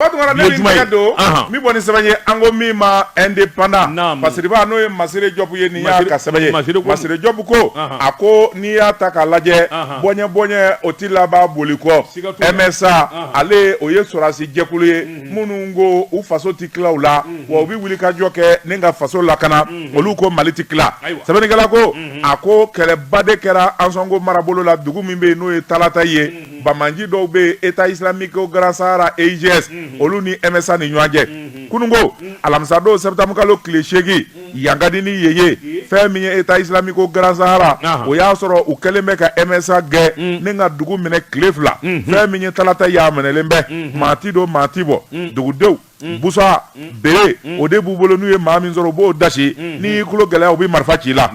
O tuma na ne min tɛgɛ don min bɔ ni sɛbɛn ye an ko min ma Indépendant masiriba n'o ye masiri jɔbu ye nin y'a ka sɛbɛn ye masiri jɔbu ko a ko n'i y'a ta k'a lajɛ bɔɲɛ bɔɲɛ o tɛ laban boli kɔ MSA ale o ye sɔrɔdasi jɛkulu ye minnu ko u faso tɛ tila u la wa u bɛ wuli ka jɔ kɛ ni ka faso lakana olu ko mali tɛ tila sɛbɛnnikɛla ko a ko kɛlɛba de kɛra Ansongo marabolo la dugu min bɛ yen n'o ye talatayi ye banbaanci dɔw bɛ yen État islamique au Grand Sahara EIGS olu ni MSA ni ɲɔgɔn cɛ kununko alamisadon septembre kalo tile seegin Yankadi ni Yeye fɛn min ye État islamique au Grand Sahara o y'a sɔrɔ u kɛlen bɛ ka MSA gɛn ni ka dugu minɛ tile fila fɛn min ye talata y'a minɛlen bɛ maa tɛ don maa tɛ bɔ dugudenw busa bere o de b'u bolo n'u ye maa min sɔrɔ u b'o dasi n'i y'i tulo gɛlɛya u bɛ marifa ci i la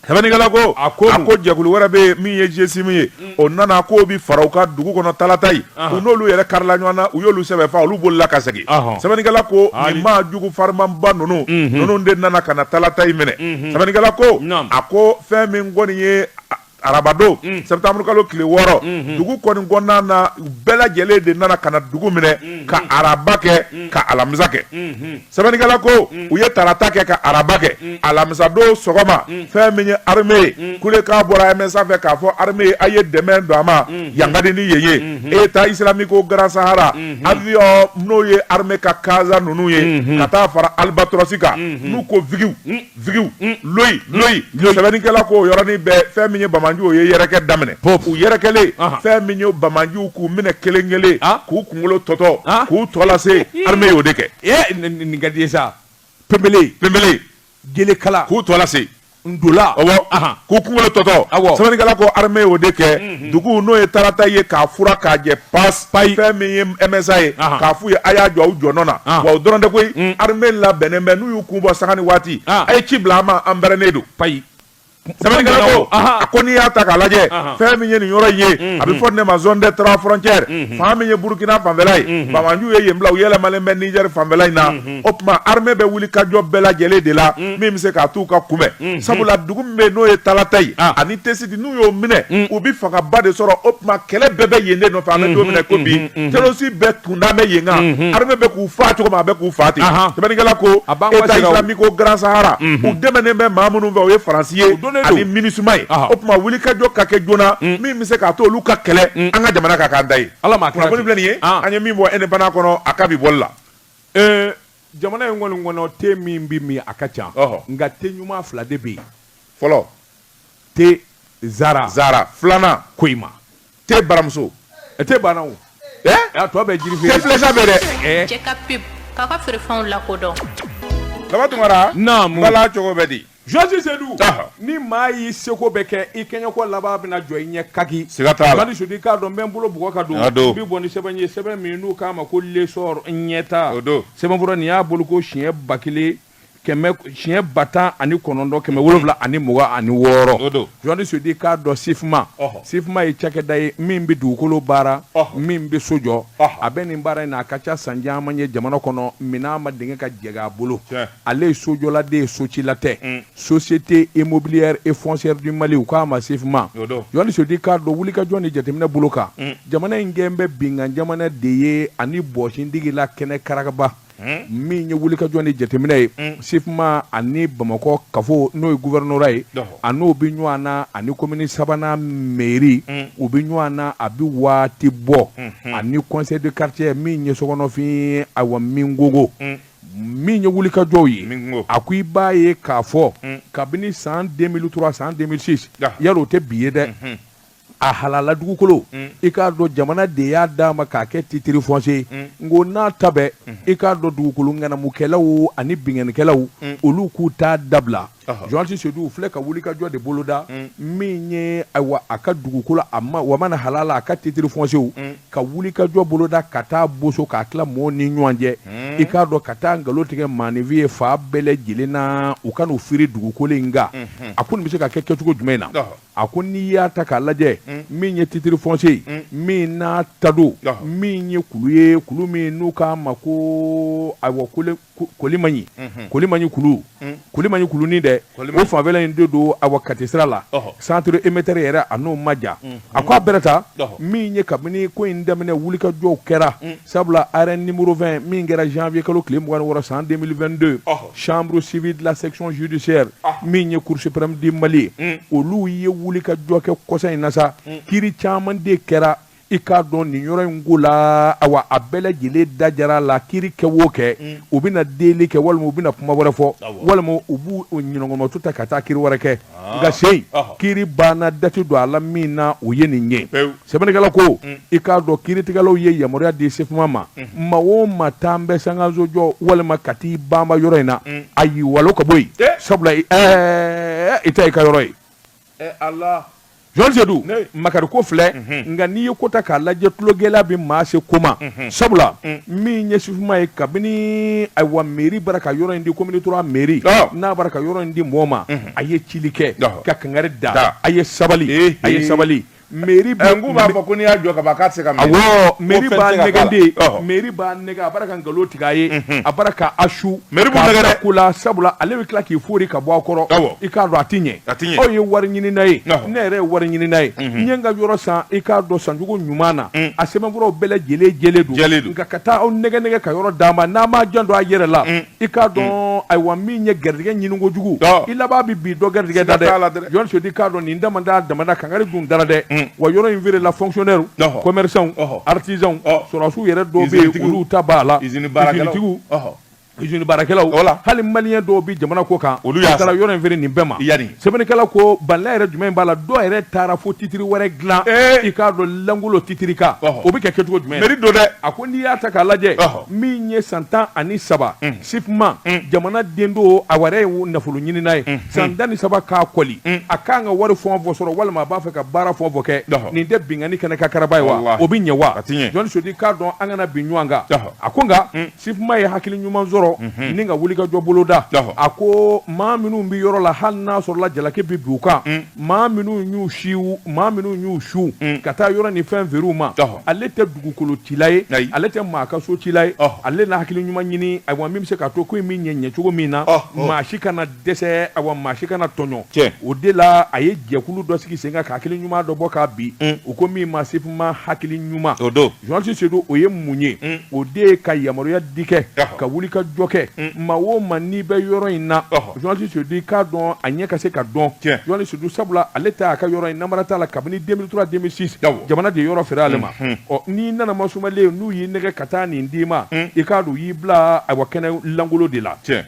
Sɛbɛnnikɛla ko a ko ko jɛkulu wɛrɛ bɛ yen min ye GSIM ye o nana k'o bɛ fara u kan dugu kɔnɔ talatayi u n'olu yɛrɛ karila ɲɔgɔn na u y'olu sɛbɛ faa olu bolila ka segin sɛbɛnnikɛla ko nin maa jugu farimanba ninnu ninnu de nana ka na talatayi minɛ sɛbɛnnikɛla ko a ko fɛn min kɔni ye arabadon septembre kalo tile wɔɔrɔ dugu kɔni kɔnɔna na bɛɛ lajɛlen de nana ka na dugu minɛ ka araba kɛ ka alamisa kɛ sɛbɛnnikɛla ko mm. u ye tarata kɛ ka araba kɛ mm. alamisadon sɔgɔma mm. fɛn min ye arme ye kulekan bɔra MSA fɛ k'a fɔ arme ye a ye dɛmɛ don an ma Yankadi ni Yeye mm-hmm. État islamique au Grand Sahara mm-hmm. aviyɔn n'o ye arme ka kaza ninnu ye mm-hmm. ka taa fara Albatros kan n'u ko vigiw vigiw mm. loyi mm. loyi sɛbɛnnikɛla ko yɔrɔnin bɛɛ fɛn min ye banbaanciw o ye yɛrɛkɛ daminɛ u yɛrɛkɛlen fɛn min ye banbaanciw k'u minɛ kelen kelen ah. k'u kunkolo tɔtɔ ah. k'u tɔ lase armée y'o de kɛ eh, nin ka di ye sa pepele pepele gelekala k'u tɔ lase ndola ɔwɔ k'u kunkolo tɔtɔ sɛbɛnnikɛla ko armée y'o de kɛ mm-hmm. dugu n'o ye talata ye k'a furan k'a jɛ pas payi fɛn min ye MSA ye Ahan. k'a f'u ye a y'a jɔ aw jɔnɔ na Ahan. wa o dɔrɔn tɛ koyi Mm. armée labɛnnen bɛ n'u y'u kun bɔ sanga ni waati Ah. a ye ci bila an ma an bɛrɛnnen don payi sɛbɛnnikɛla ko Ahan. a ko n'i y'a ta k'a lajɛ Ahan. fɛn min ye nin yɔrɔ in ye a bɛ fɔ nin de ma zone des trois frontières fan min ye burukina fanfɛla ye banbaanciw ye yen bila u yɛlɛmalen bɛ nizɛri fanfɛla in na o tuma armée bɛ wuli ka jɔ bɛɛ lajɛlen de la min bɛ se k'a t'u ka kunbɛn sabula dugu min bɛ yen n'o ye talata ye Ah. ani tesi n'u y'o minɛ mm. u bɛ fangaba de sɔrɔ o tuma kɛlɛ bɛɛ bɛ yen de nɔfɛ an bɛ don min na ko bi mm-hmm, mm-hmm. terroriste bɛɛ kunda bɛ yen kan mm-hmm. armée bɛ k'u faa cogo min a bɛ k'u faa ten sɛbɛnnikɛla ko État islamique au Grand Sahara u dɛmɛnen bɛ maa minnu fɛ o ye Faransi ye ani MINUSMA ye o tuma wulikajɔ ka kɛ joona mm. min bɛ se k'a to olu ka kɛlɛ mm. an ka jamana ka k'an ta ye kunnafoni filɛ nin ye ah. an ye min bɔ indépendant kɔnɔ a ka bi bɔli la eh, jamana in kɔni kɔnɔ te min bɛ min a ka ca nka te ɲuman fila de bɛ yen fɔlɔ te zara zara filanan Koyima te baramuso e te banna o a tɔ bɛ jiri feere filɛsa bɛ dɛ cɛ ka pub k'a ka feerefɛnw lakodɔn baba tunkara naamu bala cogo bɛ di Jɔsi Sedu ni maa y'i seko bɛɛ kɛ i kɛɲɛko laban bɛna jɔ i ɲɛ kaki siga t'a la Madi Sedu i k'a dɔn n bɛ n bolo bugɔ ka don n bɛ bɔ ni sɛbɛn ye sɛbɛn min n'u k'a ma ko L'Essor ɲɛtaa o don sɛbɛnfura nin y'a bolo ko siɲɛ ba kelen siɲɛ ba tan ani kɔnɔntɔn kɛmɛ wolonwula ani mugan ani wɔɔrɔ Jɔsi Sedu i k'a dɔn Sifma Sifma ye cakɛda ye min bɛ dugukolo baara min bɛ so jɔ a bɛ nin baara in na a ka ca san caman ye jamana kɔnɔ minɛn ma denkɛ ka jɛgɛ a bolo ale ye sojɔla de ye socila tɛ mm. société immobilière et foncière du Mali u k'a ma Sifma Jɔsi Sedu i k'a dɔn wulikajɔ ni jateminɛ bolo kan mm. jamana in kɛn bɛ binkan jamana de ye ani bɔsindigi la kɛnɛkaraba Hmm? min ye wulikajɔ ni jateminɛ ye hmm. Sifma ani bamakɔ kafo n'o ye gouvernorat ye a n'o bɛ ɲɔgɔn na ani komini sabanan meri hmm. u bɛ ɲɔgɔn na a bɛ waati bɔ ani conseil de quartier min ye Sogonafin awa min gogo min ye wulikajɔw ye a ko i b'a ye k'a fɔ kabini san 2003 san 2006 yala o tɛ bi ye dɛ a halala dugukolo i k'a dɔn jamana de y'a d'a ma k'a kɛ titre foncier o n'a ta bɛɛ i k'a dɔn dugukolo ŋanamukɛlaw ani binkanikɛlaw olu k'u t'a dabila Jɔsi Sedu u filɛ ka wulikajɔ de boloda min ye ayiwa a ka dugukolo a ma wa mana halala a ka titre foncier ka wulikajɔ boloda ka t'a boso k'a tila mɔgɔw ni ɲɔgɔn cɛ i k'a dɔn ka taa nkalon tigɛ maaninfin ye fa bɛɛ lajɛlen na u ka n'u firi dugukolo in kan a ko nin bɛ se ka kɛ kɛcogo jumɛn na a ko n'i y'a ta k'a lajɛ mm. min ye titre foncier ye mm. min n'a ta don min ye kulu ye kulu min n'u k'a ma ko ayiwa kolimaɲi mm-hmm. kolimaɲi kulu mm. kolimaɲi kulunin dɛ o fanfɛla in de don ayiwa kati sira la centre émetteur yɛrɛ a n'o ma jan mm-hmm. a ko a bɛrɛ ta min ye kabini ko in daminɛ wulikajɔw kɛra sabula arrêt numéro 20 min kɛra janvier kalo tile mugan ni wɔɔrɔ san 2022 chambre civile de la section judiciaire ah. min ye cour suprême du Mali ye hmm. olu ye wulikajɔ kɛ kɔsa in na sa hmm. kiri caman de kɛra i k'a dɔn nin yɔrɔ in ko la awa a bɛɛ lajɛlen da jara la kiri kɛ o kɛ mm. u bɛna deli kɛ walima u bɛna kuma wɛrɛ fɔ walima u b'u ɲinɔgɔmɔtu ta ka taa kiri wɛrɛ kɛ ah. nka seyi kiri banna dati don a la min na o ye nin ye sɛbɛnnikɛla ko mm. i k'a dɔn kiiritigɛlaw ye yamaruya di SIFMA ma mm. maa o maa taa n bɛ sankanso jɔ walima ka t'i banba yɔrɔ in na mm. a y'i walon ka bɔ yen eh. sabula ɛɛ i ta i ka yɔrɔ ye eh, journaliste Sedu makari ko filɛ mhm. nka n'i ye ko ta k'a lajɛ tulogɛlɛya bɛ maa se ko ma mhm. sabula min ye SIFMA ye kabini ayiwa meri bara ka yɔrɔ in di commune trois meri n'a bara ka yɔrɔ in di mɔɔ ma mhm. a ye cili kɛ ka kangari da a ye sabali a ye sabali Meri b'a fɔ ko n'i y'a jɔ ka ban k'a tɛ se ka meri b'a nɛgɛn meri b'a nɛgɛn a bara ka nkalon tigɛ a ye a bara k'a su ko la sabula ale bɛ tila k'i foori ka bɔ a kɔrɔ i k'a dɔn a tɛ ɲɛ aw ye wariɲinina ye ne yɛrɛ ye wariɲinina ye n ye n ka yɔrɔ san i k'a dɔn sancogo ɲuman na a sɛbɛnfuraw bɛɛ lajɛlen jɛlen don nka ka taa aw nɛgɛn nɛgɛn ka yɔrɔ d'a ma n'a m'a janto a yɛrɛ la i k'a dɔn mm. ayiwa min ye garijɛgɛ ɲini kojugu i laban bɛ bin dɔ garijɛgɛ da dɛ journaliste Sedu k'a dɔn nin dama da damada kangari dun dara dɛ mm. wa yɔrɔ in feerela fonctionnaire commerçants artisans sɔrɔdasiw yɛrɛ dɔw bɛ yen olu ta b'a la usine baarakɛlaw usine baarakɛlaw wala hali maliyɛn dɔw bɛ jamana kɔkan olu taara yɔrɔ in feere nin bɛɛ ma yanni sɛbɛnnikɛla ko baliya yɛrɛ jumɛn b'a la dɔw yɛrɛ taara fo titiri wɛrɛ dilan i k'a dɔn langolo titiri kan o bɛ kɛ kɛcogo jumɛn mɛri don dɛ a ko n'i y'a ta k'a lajɛ min ye san tan ani saba SIFMA jamana den don a wɛrɛ ye nafoloɲinina ye san tan ni saba k'a kɔli a k'an ka wari fɔ fɔ sɔrɔ walima a b'a fɛ ka baara fɔ fɔ kɛ nin tɛ binkanni kɛnɛ kan karaba ye wa o bɛ ɲɛ wa journaliste Sedu k'a dɔn an kana bin ɲɔgɔn kan a ko nka SIFMA ye hakili ɲuman sɔrɔ ni ka wulikajɔ boloda a ko maa minnu bɛ yɔrɔ la hali n'a sɔrɔla jalaki bɛ bin u kan maa minnu y'u si maa minnu y'u su mm. ka taa yɔrɔ ni fɛn feere u ma ale tɛ dugukolo cila ye ale tɛ maa ka so cila ye ale na hakili ɲuman ɲini ayiwa min bɛ se k'a to ko in bɛ ɲɛ ɲɛ cogo min na maa si kana dɛsɛ ayiwa maa si kana tɔɲɔ o de la a ye jɛkulu dɔ sigi sen kan ka hakili ɲuman dɔ bɔ k'a bi mm. u ko min ma SIFMA hakili ɲuman o don Journaliste Sedu o ye mun ye o de ye ka yamaruya di kɛ ka wulikajɔ kɛ maa o maa n'i bɛ yɔrɔ in na journaliste Sedu i k'a dɔn a ɲɛ ka se k'a dɔn journaliste Sedu sabula ale ta' a ka yɔrɔ in namara t'a la kabini deux mille trois deux mille six jamana de yɔrɔ feere ale ma ɔ n'i nana ma sumalen n'u y'i nɛgɛn ka taa nin d'i ma i k'a dɔn u y'i bila awa kɛnɛ lankolon de la cɛ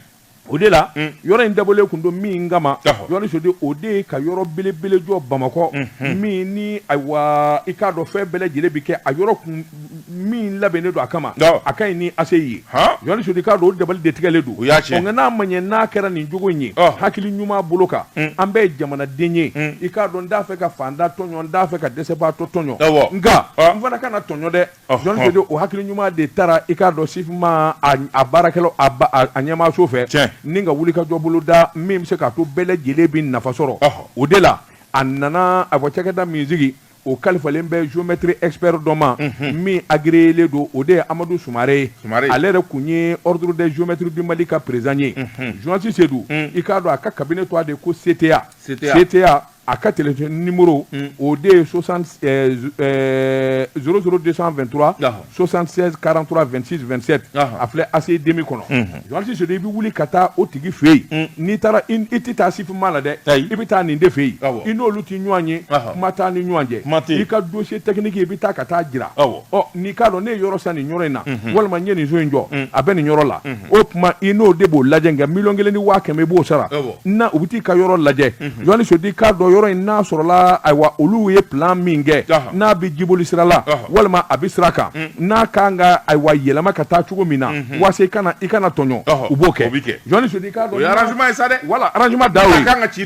o de la yɔrɔ in dabɔlen kun don min kama journaliste Sedu o de ye ka yɔrɔ belebele jɔ bamakɔ min ni ayiwa i k'a dɔn fɛn bɛɛ lajɛlen bɛ kɛ a yɔrɔ kun min labɛnnen don a kama a ka ɲi ni ACI ye journaliste Sedu k'a dɔn o dabali de tigɛlen don o y'a cɛ nka n'a ma ɲɛ n'a kɛra nin cogo in ye hakili ɲuman bolo kan an bɛɛ ye jamanaden ye i k'a dɔn n t'a fɛ ka faantan tɔɲɔ n t'a fɛ ka dɛsɛbaatɔ tɔɲɔ nka n fana kana tɔɲɔ dɛ jɔn sedu o hakili ɲuman de taara i k'a dɔn SIFMA a baarakɛlaw a ɲɛmaaso fɛ ni ka wulikajɔ boloda min bɛ se k'a to bɛɛ lajɛlen bɛ nafa sɔrɔ o de la a nana a fɔ cakɛda min sigi o kalifalen bɛ géomètre expert dɔ ma min agirieele don o de ye amadu sumaare ye ale yɛrɛ tun ye ordre des géomètres du mali ka président ye journaliste sedu i k'a dɔn a ka cabinet tɔgɔ de ko CTA CTA a ka tele nimuru o de ye sɔsan desantura sɔsan karantura2si2sɛti a filɛ a dimi kɔnɔsi so i bɛ wuli ka taa o tigi fɛ yen n'i taara i tɛ taa sifin'a la dɛ i bɛ taa nin de fɛ yen i n'olu tɛ ɲɔgɔn ye kuma taa ni ɲɔgɔn cɛ i ka donsi tɛkinige i bɛ taa ka taa jira n'i k'a dɔn ne ye yɔrɔ san nin yɔrɔ in na walima n ye nin so in jɔ a bɛ nin yɔrɔ la o tuma i n'o de b'o lajɛ nka miliyɔn kelen ni waa kɛmɛ i b'o sara na u bɛ t'i ka yɔrɔ lajɛ jɔnni sodi k'a dɔn yɔrɔ in n'a sɔrɔla ayiwa olu ye plan min kɛ n'a bɛ jiboli sira la walima a bɛ sira kan n'a ka kan ka ayiwa yɛlɛma ka taa cogo min na walasa i kana tɔɲɔ u b'o kɛ jɔn sodi k'a dɔn o ye arrangement ye sa dɛ wala arrangement da kan ka ci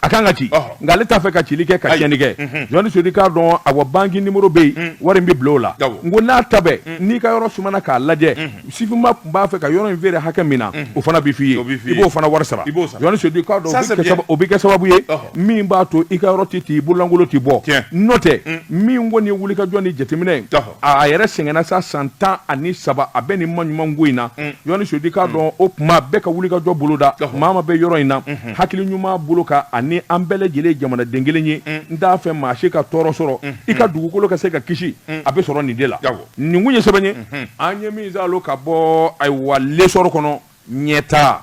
a kan ka ci nka ale t'a fɛ ka cili kɛ ka tiɲɛni kɛ jɔnni sodi k'a dɔn awa banki numéro bɛ yen wari bɛ bila o la n ko n'a ta bɛ n'i ka yɔrɔ sumana k'a lajɛ SIFMA tun b'a fɛ ka yɔrɔ in feere hakɛ min na o fana bɛ f'i ye i b'o fana wari sara jɔnni sodi k'a dɔn o bɛ kɛ sababu ye min b'a to i ka yɔrɔ tɛ t'i bololankolon tɛ bɔ n'o tɛ min kɔni wulikajɔ ni jateminɛ ye a yɛrɛ sɛgɛnna sa san tan ani saba a bɛ nin maɲuman ko in na mm. jɔnni sodi k'a mm. dɔn o tuma bɛɛ ka wulikajɔ boloda maa ma bɛ yɔrɔ in na mm-hmm. hakili ɲuman bolo ka ani an bɛɛ lajɛlen jamanaden kelen ye mm. n t'a fɛ maa si ka tɔɔrɔ sɔrɔ mm-hmm. i ka dugukolo ka se ka kisi a bɛ sɔrɔ nin de la nin kun ye sɛbɛn ye mm-hmm. an ye min zalo ka bɔ ayiwa L'Essor kɔnɔ ɲɛtaa